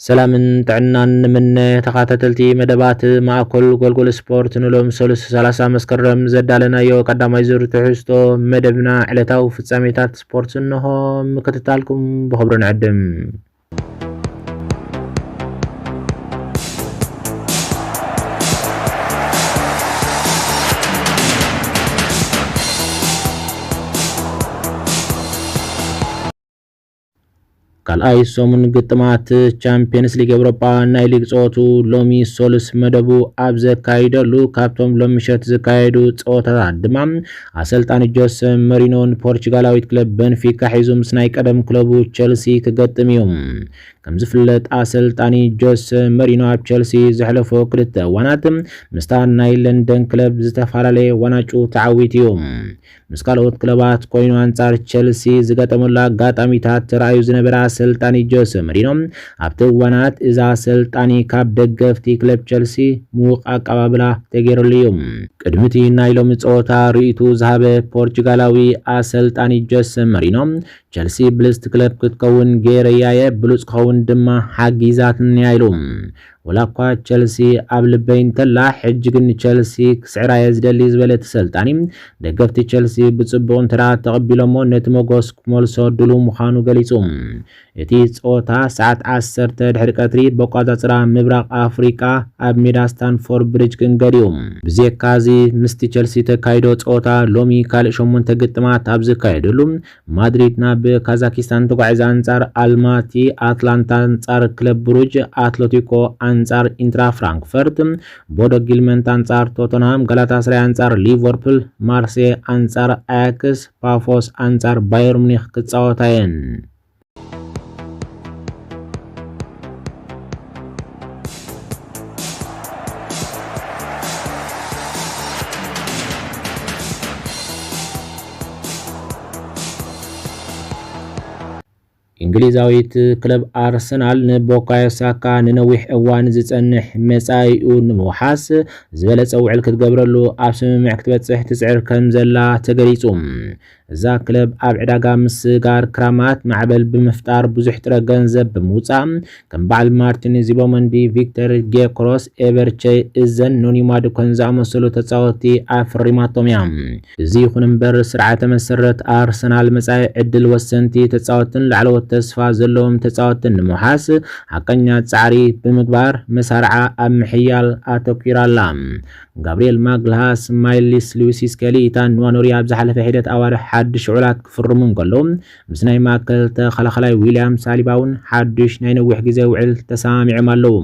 ሰላምን ጥዕናን ንምነ ተኻታተልቲ መደባት ማእኮል ጎልጎል ስፖርት ንሎም ሰሉስ ሰላሳ መስከረም ዘዳለናዮ ቀዳማይ ዙር ትሕዝቶ መደብና ዕለታዊ ፍጻሜታት ስፖርት እንሆ ምክትታልኩም ብኽብሪ ንዕድም። ካልኣይ ሰሙን ግጥማት ቻምፒየንስ ሊግ ኤውሮጳ ናይ ሊግ ጸወቱ ሎሚ ሶሉስ መደቡ ኣብ ዘካይደሉ ካብቶም ሎም ምሸት ዝካየዱ ጸወታታት ድማ ኣሰልጣኒ ጆሰ መሪኖ ንፖርቹጋላዊት ክለብ በንፊካ ሒዙ ምስ ናይ ቀደም ክለቡ ቸልሲ ክገጥም እዩ። ከም ዝፍለጥ ኣሰልጣኒ ጆሰ መሪኖ ኣብ ቸልሲ ዘሕለፎ ክልተ እዋናት ምስታ ናይ ለንደን ክለብ ዝተፈላለየ ዋናጩ ተዓዊት እዩ። ምስ ካልኦት ክለባት ኮይኑ ኣንጻር ቸልሲ ዝገጠመሉ ኣጋጣሚታት ተራእዩ ዝነበረ ኣሰልጣኒ ጆሰ መሪኖ፣ ኣብቲ እዋናት እዚ ኣሰልጣኒ ካብ ደገፍቲ ክለብ ቸልሲ ምዉቕ ኣቀባብላ ተገይረሉ እዩ። ቅድሚ'ቲ ናይ ሎሚ ጸወታ ርእይትኡ ዝሃበ ፖርቹጋላዊ ኣሰልጣኒ ጆሰ መሪኖ፣ ቸልሲ ብልጽቲ ክለብ ክትከውን ገይረያ'የ፣ ብሉጽ ክኸውን ድማ ሓጊዛትኒ'ያ ኢሉ። ወላኳ ቸልሲ ኣብ ልበይ እንተላ ሕጂ ግን ንቸልሲ ክስዕራየ ዝደሊ ዝበለ እቲ ሰልጣኒ፣ ደገፍቲ ቸልሲ ብጽቡቕ እንተድኣ ተቐቢሎሞ ነቲ ሞጎስ ክመልሶ ድሉው ምዃኑ ገሊጹ። እቲ ጸወታ ሰዓት ዓሰርተ ድሕሪ ቀትሪ በቋጻጽራ ምብራቕ ኣፍሪቃ ኣብ ሜዳ ስታንፎር ብሪጅ ክንገድ'ዩ። ብዜካ'ዚ ምስቲ ቸልሲ ተካይዶ ጸወታ ሎሚ ካልእ ሸሞንተ ግጥማት ኣብ ዝካየደሉ፣ ማድሪድ ናብ ካዛኪስታን ተጓዒዛ ኣንጻር ኣልማቲ፣ ኣትላንታ ኣንጻር ክለብ ብሩጅ፣ ኣትለቲኮ ኣንጻር ኢንትራ ፍራንክፈርት፣ ቦዶ ጊልመንት ኣንጻር ቶተንሃም፣ ጋላታስራይ ኣንጻር ሊቨርፑል፣ ማርሴ ኣንጻር ኣያክስ፣ ፓፎስ ኣንጻር ባየር ሙኒክ ክጻወታ እየን። እንግሊዛዊት ክለብ ኣርሰናል ንቦካዮ ሳካ ንነዊሕ እዋን ዝጸንሕ መጻኢኡ ንምውሓስ ዝበለጸ ውዕል ክትገብረሉ ኣብ ስምምዕ ክትበጽሕ ትጽዕር ከም ዘላ ተገሊጹ። እዛ ክለብ ኣብ ዕዳጋ ምስግጋር ክራማት ማዕበል ብምፍጣር ብዙሕ ጥረ ገንዘብ ብምውፃእ ከም በዓል ማርቲን ዚቦመንዲ፣ ቪክተር ጌክሮስ፣ ኤቨርቼ እዘን፣ ኖኒ ማዱከን ዝኣመሰሉ ተፃወትቲ ኣፍሪማቶም እያ። እዚ ይኹን እምበር ስርዓተ መሰረት ኣርሰናል መፃኢ ዕድል ወሰንቲ ተፃወትቲን ላዕለዎት ተስፋ ዘለዎም ተፃወትቲን ንምውሓስ ሓቀኛ ፃዕሪ ብምግባር መሳርዓ ኣብ ምሕያል ኣተኲራ ኣላ። ጋብርኤል ማግልሃስ፣ ማይልስ ልዊስ ስኬሊ፣ ኢታን ንዋኑሪ ኣብ ዝሓለፈ ሒደት ኣዋርሕ ሓድሽ ውዕላት ክፍርሙ እንከለዉ፣ ምስ ናይ ማእከል ተኸላኻላይ ዊልያም ሳሊባ'ውን ሓድሽ ናይ ነዊሕ ግዜ ውዕል ተሰማሚዖም ኣለዉ።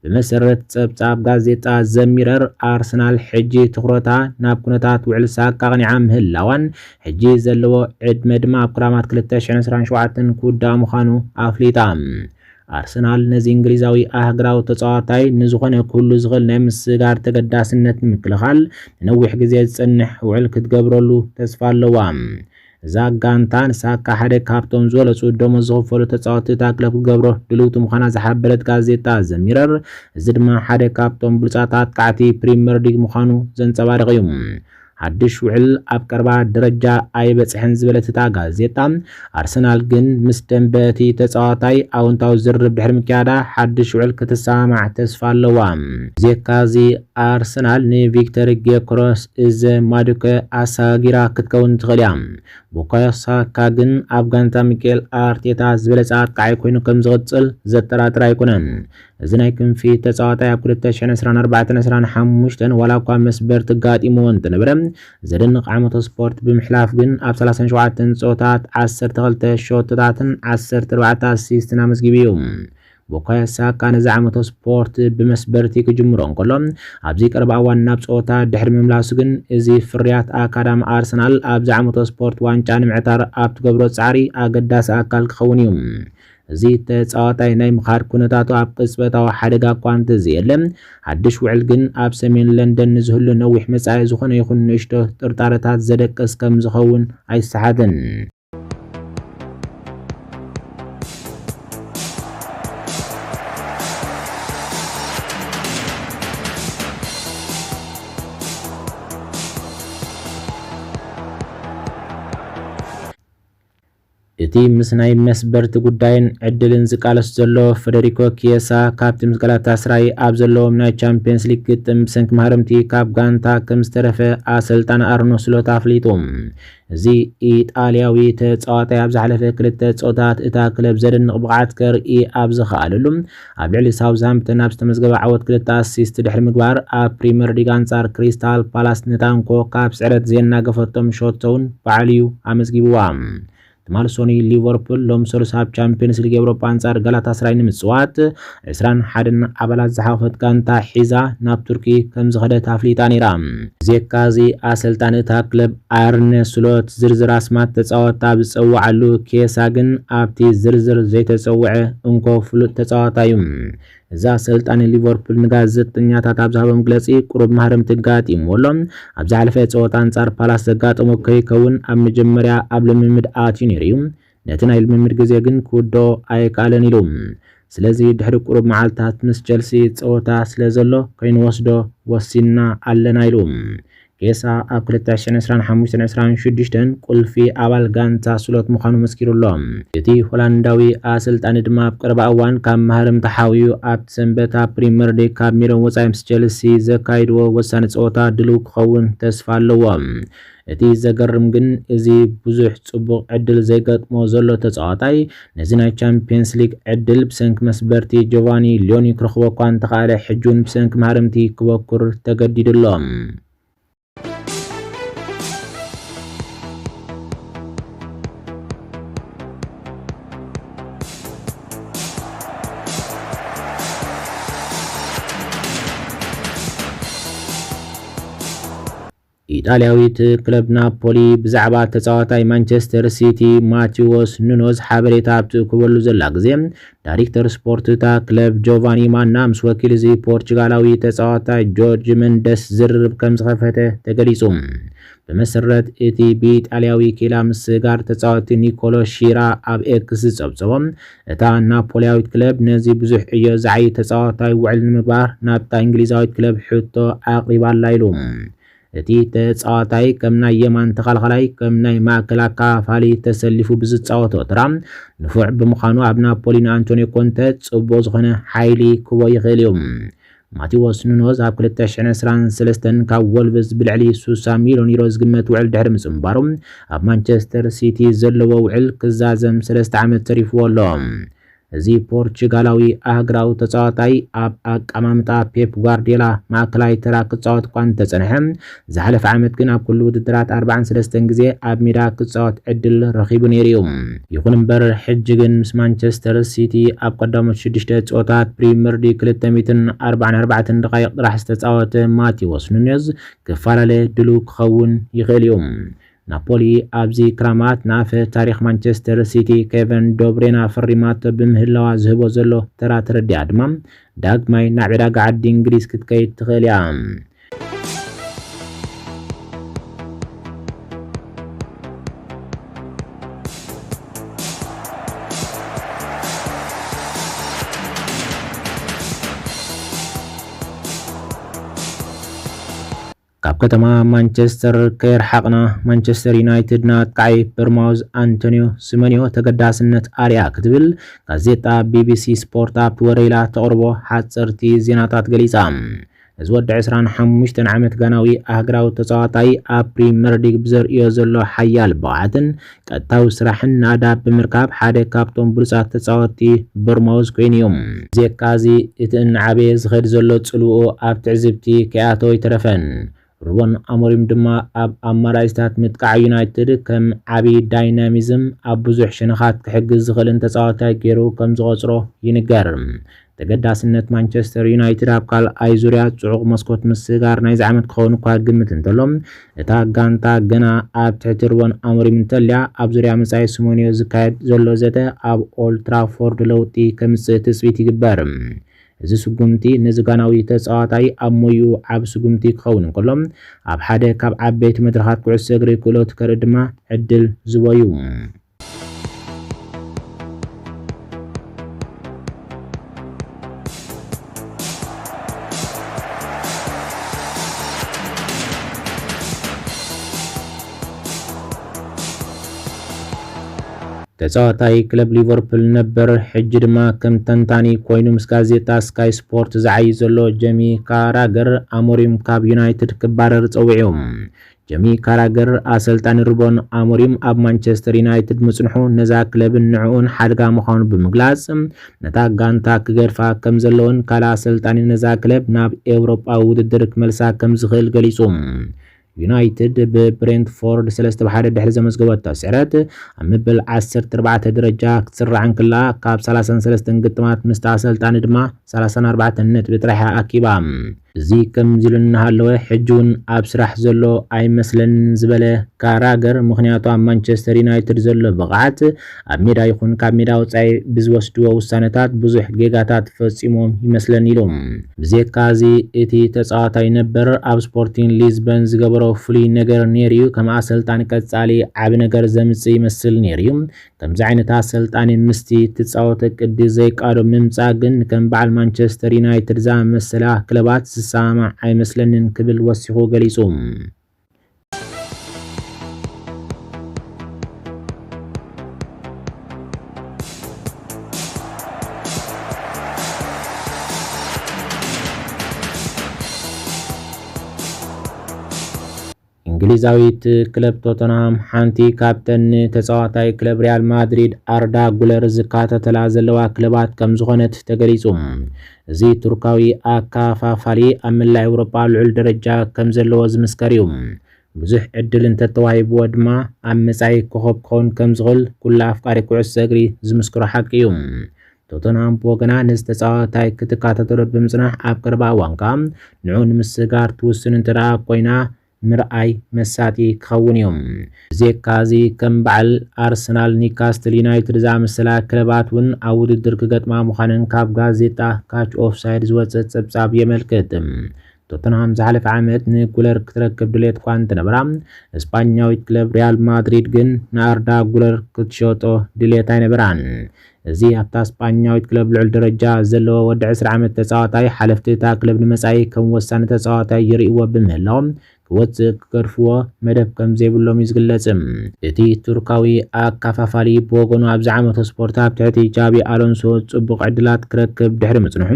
ብመሰረት ጸብጻብ ጋዜጣ ዘ ሚረር፣ ኣርሰናል ሕጂ ትኹረታ ናብ ኩነታት ውዕል ሳካ ኣቕኒዓ ምህላዋን ሕጂ ዘለዎ ዕድመ ድማ ኣብ ክራማት ክልተ ሽሕን ዕስራን ሸውዓተን ክውዳእ ምዃኑ ኣፍሊጣ። ኣርሰናል ነዚ እንግሊዛዊ ኣህግራዊ ተጻዋታይ ንዝኾነ ኩሉ ዝኽእል ናይ ምስጋር ተገዳስነት ንምክልኻል ንነዊሕ ግዜ ዝጸንሕ ውዕል ክትገብረሉ ተስፋ ኣለዋ። እዛ ጋንታ ንሳካ ሓደ ካብቶም ዝበለጹ ደሞዝ ዝኽፈሉ ተጻወትቲ እታ ክለብ ክትገብሮ ድልውቲ ምዃና ዝሓበረት ጋዜጣ ዘ ሚረር እዚ ድማ ሓደ ካብቶም ብሉጻት ኣጥቃዕቲ ፕሪምየር ሊግ ምዃኑ ዘንጸባርቕ እዩ። ሓድሽ ውዕል ኣብ ቀረባ ደረጃ ኣይበጽሐን ዝበለት እታ ጋዜጣ፣ ኣርሰናል ግን ምስ ደምበ እቲ ተጻዋታይ ኣወንታዊ ዝርርብ ድሕሪ ምክያዳ ሓድሽ ውዕል ክትሰማማዕ ተስፋ ኣለዋ። ብዜካ እዚ ኣርሰናል ንቪክተር ጌዮኮረስ እዘ ማዱከ ኣሰጋጊራ ክትከውን ትኽእል እያ። ቡካዮ ሳካ ግን ኣብ ጋንታ ሚኬል ኣርቴታ ዝበለጸ ኣጥቃዓይ ኮይኑ ከምዝቕጽል ዘጠራጥር ኣይኮነን። እዚ ናይ ክንፊ ተጻዋታይ ኣብ 2024ን 25ን ዋላ እኳ መስበርቲ ኣጋጢምዎ እንተነበረ ዘደንቕ ዓመተ ስፖርት ብምሕላፍ ግን ኣብ 37 ጸወታት 12 ሸቶታትን 14 ኣሲስትን ኣመዝጊቡ እዩ። ቡካዮ ሳካ ነዚ ዓመተ ስፖርት ብመስበርቲ ክጅምሮ እንከሎ ኣብዚ ቀረባ እዋን ናብ ጸወታ ድሕሪ ምምላሱ ግን እዚ ፍርያት ኣካዳሚ ኣርሰናል ኣብዚ ዓመተ ስፖርት ዋንጫ ንምዕታር ኣብ ትገብሮ ጻዕሪ ኣገዳሲ ኣካል ክኸውን እዩ እዚ ተጻዋታይ ናይ ምኻድ ኩነታቱ ኣብ ቅጽበታዊ ሓደጋ እኳ እንተዘየለ፣ ሓድሽ ውዕል ግን ኣብ ሰሜን ለንደን ንዝህሉ ነዊሕ መጻኢ ዝኾነ ይኹን ንእሽቶ ጥርጣረታት ዘደቅስ ከም ዝኸውን ኣይሰሓትን። እቲ ምስ ናይ መስበርቲ ጉዳይን ዕድልን ዝቃለስ ዘሎ ፈደሪኮ ኪየሳ፣ ካብቲ ምስ ጋላታስራይ ኣብ ዘለዎም ናይ ቻምፕየንስ ሊግ ግጥም ብሰንኪ ማህረምቲ ካብ ጋንታ ከምዝተረፈ ኣሰልጣኒ ኣርኖ ስሎት ኣፍሊጡ። እዚ ኢጣልያዊ ተጻዋታይ ኣብ ዝሓለፈ ክልተ ጸወታት እታ ክለብ ዘደንቕ ብቕዓት ከርኢ ኣብ ዝኸኣለሉ፣ ኣብ ልዕሊ ሳውዝሃምፕተን ኣብ ዝተመዝገበ ዓወት ክልተ ኣሲስት ድሕሪ ምግባር ኣብ ፕሪመር ሊግ ኣንጻር ክሪስታል ፓላስ ንታንኮ ካብ ስዕረት ዜናገፈቶም ሾቶ'ውን ባዕሉ'ዩ ኣመዝጊብዋ። ትማል ሶኑይ ሊቨርፑል ሎም ሰሉስ ኣብ ቻምፕዮንስ ሊግ ኤውሮጳ ኣንጻር ጋላታስራይ ንምጽዋት ዕስራን ሓደን ኣባላት ዝሓቖፈት ጋንታ ሒዛ ናብ ቱርኪ ከምዝኸደት ኣፍሊጣ ነይራ። ብዜካ'ዚ ኣሰልጣኒ እታ ክለብ ኣርነ ስሎት ዝርዝር ኣስማት ተጻወትቲ ኣብ ዝጸውዓሉ፣ ኬሳ ግን ኣብቲ ዝርዝር ዘይተጸውዐ እንኮ ፍሉጥ ተጻዋታይ'ዩ። እዚ ኣሰልጣኒ ሊቨርፑል ንጋዜጠኛታት ኣብ ዝሃቦ መግለጺ፣ ቁሩብ ማህረምቲ ኣጋጢምዎ ኣሎ። ኣብ ዝሓለፈ ጸወታ ኣንጻር ፓላስ ዘጋጠሞ ከይከውን ኣብ መጀመርያ ኣብ ልምምድ ኣትዩ ነይሩ'ዩ። ነቲ ናይ ልምምድ ግዜ ግን ክውድኦ ኣይከኣለን ኢሉ። ስለዚ ድሕሪ ቁሩብ መዓልታት ምስ ቸልሲ ጸወታ ስለ ዘሎ ከይንወስዶ ወሲንና ኣለና ኢሉ። ኬሳ ኣብ ክልተ ሽሕን ዕስራን ሓሙሽተን ዕስራን ሽዱሽተን ቁልፊ ኣባል ጋንታ ስሎት ምዃኑ መስኪሩ ኣሎ። እቲ ሆላንዳዊ ኣሰልጣኒ ድማ ኣብ ቀረባ እዋን ካብ መሃርምታ ሓውዩ ኣብቲ ሰንበት ኣብ ፕሪመር ሊግ ካብ ሜድኦም ወጻኢ ምስ ቸልሲ ዘካይድዎ ወሳኒ ጸወታ ድልው ክኸውን ተስፋ ኣለዎ። እቲ ዘገርም ግን እዚ ብዙሕ ጽቡቕ ዕድል ዘይገጥሞ ዘሎ ተጻዋታይ፣ ነዚ ናይ ቻምፕየንስ ሊግ ዕድል ብሰንኪ መስበርቲ ጆቫኒ ሊዮኒ ክረኽቦ እኳ እንተኸኣለ ሕጂ'ውን ብሰንኪ ማህረምቲ ክበኩር ተገዲዱ ኣሎ። ኢጣልያዊት ክለብ ናፖሊ ብዛዕባ ተጻዋታይ ማንቸስተር ሲቲ ማቲዎስ ኑኖዝ ሓበሬታ ኣብ ትእክበሉ ዘላ ግዜ፣ ዳሪክተር ስፖርት እታ ክለብ ጆቫኒ ማና ምስ ወኪል እዚ ፖርቹጋላዊ ተጻዋታይ ጆርጅ መንደስ ዝርርብ ከም ዝኸፈተ ተገሊጹ። ብመሰረት እቲ ብኢጣልያዊ ኪላ ምስ ጋር ተጻወቲ ኒኮሎ ሺራ ኣብ ኤክስ ዝጸብጸቦ፣ እታ ናፖሊያዊት ክለብ ነዚ ብዙሕ ዕዮ ዝዓዪ ተጻዋታይ ውዕል ንምግባር ናብታ እንግሊዛዊት ክለብ ሕቶ ኣቕሪባ'ላ ኢሉ። እቲ ተጻዋታይ ከም ናይ የማን ተኸላኻላይ ከም ናይ ማእከል ኣከፋፋሊ ተሰሊፉ ብዝጻወቶ ተራ ንፉዕ ብምዃኑ ኣብ ናፖሊ ንኣንቶንዮ ኮንተ ጽቡቕ ዝኾነ ሓይሊ ክህቦ ይኽእል'ዩ። ማቲዎስ ኑኖዝ ኣብ ክልተ ሽሕን ዕስራን ሰለስተን ካብ ወልቭስ ብልዕሊ ሱሳ ሚልዮን ዩሮ ዝግመት ውዕል ድሕሪ ምጽንባሩ፣ ኣብ ማንቸስተር ሲቲ ዘለዎ ውዕል ክዛዘም ሰለስተ ዓመት ተሪፍዎ ኣሎ። እዚ ፖርቹጋላዊ ኣህግራዊ ተጻዋታይ፣ ኣብ ኣቀማምጣ ፔፕ ጓርድዮላ ማእከላይ ተራ ክጻወት'ኳ እንተጸንሐ፣ ዝሓለፈ ዓመት ግን ኣብ ኩሉ ውድድራት ኣርብዓን ሰለስተን ግዜ ኣብ ሜዳ ክጻወት ዕድል ረኺቡ ነይሩ'ዩ። ይኹን'ምበር ሕጂ ግን ምስ ማንቸስተር ሲቲ ኣብ ቀዳሞት ሽዱሽተ ጸወታት ፕሪመርሊግ ክልተ ሚእትን ኣርባዓን ኣርባዕተን ደቓይቕ ጥራሕ ዝተጻወተ ማቲዎስ ኑኔዝ ክፈላለ ድሉው ክኸውን ይኽእል'ዩ። ናፖሊ ኣብዚ ክራማት ንኣፈ ታሪኽ ማንቸስተር ሲቲ ኬቨን ዶብሬና ፈሪማቶ ብምህላዋ ዝህቦ ዘሎ ተራ ተረዲኣ ድማ ዳግማይ ናብ ዕዳጋ ዓዲ እንግሊዝ ክትከይድ ትኽእል እያ። ካብ ከተማ ማንቸስተር ከየርሓቕና ማንቸስተር ዩናይትድን ኣጥቃዒ በርማውዝ ኣንቶንዮ ስመንዮ ተገዳስነት ኣርያ ክትብል ጋዜጣ ቢቢሲ ስፖርት ኣብቲ ወረ ኢላ ተቕርቦ ሓጸርቲ ዜናታት ገሊጻ። እዚ ወዲ ዕስራን ሓሙሽተን ዓመት ጋናዊ ኣህግራዊ ተጻዋታይ ኣብ ፕሪመርሊግ ብዘርእዮ ዘሎ ሓያል ብቕዓትን ቀጥታዊ ስራሕን ናዳብ ብምርካብ ሓደ ካብቶም ብሉጻት ተጻወትቲ ቦርማውዝ ኮይኑ እዩ። ብዜካ'ዚ እቲ እናዓበየ ዝኸይድ ዘሎ ጽልውኡ ኣብ ትዕዝብቲ ከይኣተወ ኣይተረፈን። ሩበን ኣሞሪም ድማ ኣብ ኣማራጺታት ምጥቃዕ ዩናይትድ ከም ዓቢ ዳይናሚዝም ኣብ ብዙሕ ሸነኻት ክሕግዝ ዝኽእልን ተጻዋታይ ገይሩ ከምዝቖጽሮ ይንገር። ተገዳስነት ማንቸስተር ዩናይትድ ኣብ ካልኣይ ዙርያ ጽዑቕ መስኮት ምስጋር ናይዚ ዓመት ክኸውን እኳ ግምት እንተሎ፣ እታ ጋንታ ገና ኣብ ትሕቲ ሩበን ኣሞሪም እንተልያ፣ ኣብ ዙርያ መጻኢ ስሙንዮ ዝካየድ ዘሎ ዘተ ኣብ ኦልድ ትራፎርድ ለውጢ ከምጽእ ትጽቢት ይግበር። እዚ ስጉምቲ ነዚ ጋናዊ ተጻዋታይ ኣብ ሞይኡ ዓቢ ስጉምቲ ክኸውን እንከሎ፣ ኣብ ሓደ ካብ ዓበይቲ መድረኻት ኩዕሶ እግሪ ክእለቱ ከርኢ ድማ ዕድል ዝቦ'ዩ። ተጻዋታይ ክለብ ሊቨርፑል ነበር ሕጂ ድማ ከም ተንታኒ ኮይኑ ምስ ጋዜጣ ስካይ ስፖርት ዝዓይ ዘሎ ጀሚ ካራገር ኣሞሪም ካብ ዩናይትድ ክባረር ጸዊዑ። ጀሚ ካራገር፣ ኣሰልጣኒ ሩበን ኣሞሪም ኣብ ማንቸስተር ዩናይትድ ምጽንሑ ነዛ ክለብን ንዕኡን ሓደጋ ምዃኑ ብምግላጽ፣ ነታ ጋንታ ክገድፋ ከም ዘለዎን ካልእ ኣሰልጣኒ ነዛ ክለብ ናብ ኤውሮጳዊ ውድድር ክመልሳ ከም ዝኽእል ገሊጹ። ዩናይትድ ብብሬንትፎርድ ሰለስተ ብ ሓደ ድሕሪ ዘመዝገበቶ ስዕረት ኣብ መበል ዓሰርተ ኣርባዕተ ደረጃ ክትስራዕ እንከላ፣ ካብ ሰላሳን ሰለስተን ግጥማት ምስቲ ኣሰልጣኒ ድማ ሰላሳን ኣርባዕተን ነጥቢ ጥራሕ'ያ ኣኪባ። እዚ ከምዚ ኢሉ እናሃለወ ሕጂ'ውን ኣብ ስራሕ ዘሎ ኣይመስለንን ዝበለ ካራገር፣ ምኽንያቱ ኣብ ማንቸስተር ዩናይትድ ዘሎ ብቕዓት፣ ኣብ ሜዳ ይኹን ካብ ሜዳ ወጻኢ ብዝወስድዎ ውሳነታት ብዙሕ ጌጋታት ፈጺሞም ይመስለኒ ኢሉ። ብዜካ'ዚ እቲ ተጻዋታይ ነበር ኣብ ስፖርቲን ሊዝበን ዝገበሮ ፍሉይ ነገር ነይሩ'ዩ፣ ከም ኣሰልጣኒ ቀጻሊ ዓቢ ነገር ዘምጽእ ይመስል ነይሩ'ዩ፣ ከምዚ ዓይነት ኣሰልጣኒ ምስቲ እትጻወቶ ቅዲ ዘይቃዶ ምምጻእ ግን ከም በዓል ማንቸስተር ዩናይትድ ዝኣመሰላ ክለባት ዝሰማማዕ ኣይመስለንን ክብል ወሲኹ ገሊጹ። እንግሊዛዊት ክለብ ቶተንሃም ሓንቲ ካብተን ንተጻዋታይ ክለብ ሪያል ማድሪድ ኣርዳ ጉለር ዝካተተላ ዘለዋ ክለባት ከም ዝኾነት ተገሊጹ። እዚ ቱርካዊ ኣካፋፋሊ ኣብ መላእ ኤውሮጳ ልዑል ደረጃ ከም ዘለዎ ዝምስከር እዩ። ብዙሕ ዕድል እንተተዋሂብዎ ድማ ኣብ መጻኢ ኮኾብ ክኸውን ከም ዝኽእል ኩሉ ኣፍቃሪ ኩዕሶ እግሪ ዝምስክሮ ሓቂ እዩ። ቶተንሃም ብወገና ነዚ ተጻዋታይ ክትከታተሎ ብምጽናሕ ኣብ ቀረባ እዋን ከኣ ንዕኡ ንምስግጋር ትውስን እንተደኣ ኮይና ምርኣይ መሳጢ ክኸውን እዩ። ብዜካ እዚ ከም በዓል ኣርሰናል፣ ኒካስትል ዩናይትድ ዝኣመሰላ ክለባት እውን ኣብ ውድድር ክገጥማ ምዃነን ካብ ጋዜጣ ካች ኦፍ ሳይድ ዝወጸ ጸብጻብ የመልክት። ቶተንሃም ዝሓለፈ ዓመት ንጉለር ክትረክብ ድሌት እኳ እንተነበራ፣ ስጳኛዊት ክለብ ሪያል ማድሪድ ግን ንኣርዳ ጉለር ክትሸጦ ድሌት ኣይነበራን። እዚ ኣብታ ስጳኛዊት ክለብ ልዑል ደረጃ ዘለዎ ወዲ ዕስራ ዓመት ተጻዋታይ፣ ሓለፍቲ እታ ክለብ ንመጻኢ ከም ወሳኒ ተጻዋታይ ይርእይዎ ብምህላዎም፣ ክወጽእ ክገድፍዎ መደብ ከም ዘይብሎም'ዩ ዝግለጽ። እቲ ቱርካዊ ኣካፋፋሊ ብወገኑ ኣብዚ ዓመተ ስፖርት ኣብ ትሕቲ ጃቢ ኣሎንሶ ጽቡቕ ዕድላት ክረክብ ድሕሪ ምጽንሑ፣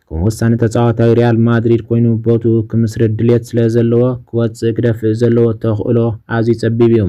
ከም ወሳኒ ተጻዋታይ ሪያል ማድሪድ ኮይኑ ቦትኡ ክምስርት ድልየት ስለ ዘለዎ ክወጽእ ክደፍእ ዘለዎ ተኽእሎ ኣዝዩ ጸቢብ'ዩ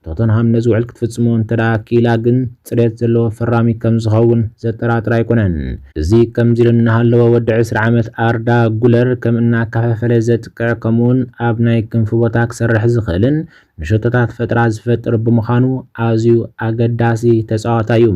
ቶተንሃም ነዚ ውዕል ክትፍጽሞ እንተደኣ ክኢላ ግን ጽሬት ዘለዎ ፈራሚ ከም ዝኸውን ዘጠራጥር ኣይኮነን። እዚ ከምዚ ኢሉ እናሃለወ ወዲ ዕስራ ዓመት ኣርዳ ጉለር ከም እናከፋፈለ ዘጥቅዕ ከምኡ'ውን ኣብ ናይ ክንፊ ቦታ ክሰርሕ ዝኽእልን ንሸቶታት ፈጠራ ዝፈጥር ብምዃኑ ኣዝዩ ኣገዳሲ ተጻዋታይ እዩ።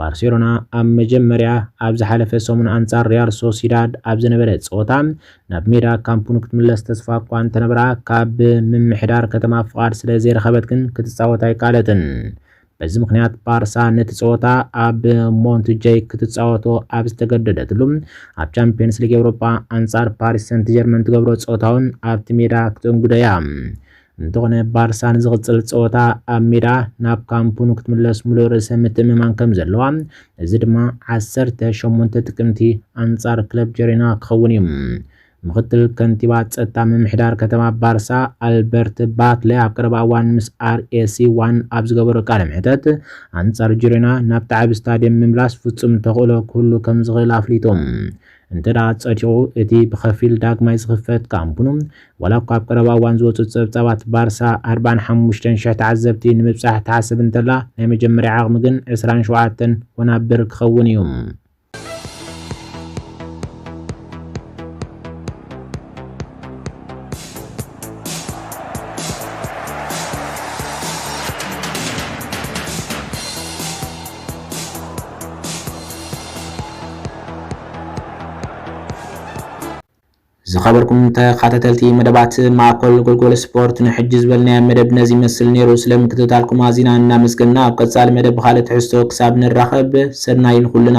ባርሴሎና ኣብ መጀመርያ ኣብ ዝሓለፈ ሰሙን ኣንጻር ሪያል ሶሲዳድ ኣብ ዝነበረ ጸወታ ናብ ሜዳ ካምፕኑ ክትምለስ ተስፋ እኳ እንተነበራ ካብ ምምሕዳር ከተማ ፍቓድ ስለ ዘይረኸበት ግን ክትጻወት ኣይከኣለትን። በዚ ምክንያት ባርሳ ነቲ ጸወታ ኣብ ሞንትጀይ ክትጻወቶ ኣብ ዝተገደደትሉ ኣብ ቻምፕዮንስ ሊግ ኤውሮጳ ኣንጻር ፓሪስ ሰንት ጀርመን ትገብሮ ጸወታውን ኣብቲ ሜዳ ክተንግዶ እያ። እንተኾነ ባርሳ ንዝቕጽል ጸወታ ኣብ ሜዳ ናብ ካምፑኑ ክትምለስ ሙሉእ ርእሰ ምትእምማን ከም ዘለዋ፣ እዚ ድማ ዓሰርተ ሸሞንተ ጥቅምቲ ኣንጻር ክለብ ጀሮና ክኸውን እዩ። ምኽትል ከንቲባ ጸጥታ ምምሕዳር ከተማ ባርሳ ኣልበርት ባትለ ኣብ ቀረባ እዋን ምስ ኣርኤሲ ዋን ኣብ ዝገበሮ ቃለ መሕተት ኣንጻር ጅሮና ናብቲ ዓቢ ስታድየም ምምላስ ፍጹም ተኽእሎ ክህሉ ከም ዝኽእል ኣፍሊጡ። እንተድኣ ጸዲቑ፣ እቲ ብኸፊል ዳግማይ ዝኽፈት ካምፕኑ፣ ዋላ እኳ ኣብ ቀረባ እዋን ዝወጹ ጸብጻባት ባርሳ ኣርባዓን ሓሙሽተን ሽሕ ተዓዘብቲ ንምብጻሕ ትሓስብ እንተላ፣ ናይ መጀመርያ ዓቕሚ ግን ዕስራን ሸውዓተን ወናብር ክኸውን እዩ። ዝኸበርኩም ተኸታተልቲ መደባት ማእኮል ጎልጎል ስፖርት ንሕጂ ዝበልናዮ መደብ ነዚ ይመስል ነይሩ። ስለ ምክትታልኩም ኣዚና እናመስገና ኣብ ቀጻሊ መደብ ብኻልእ ትሕዝቶ ክሳብ ንራኸብ ሰናይ ንኹልና።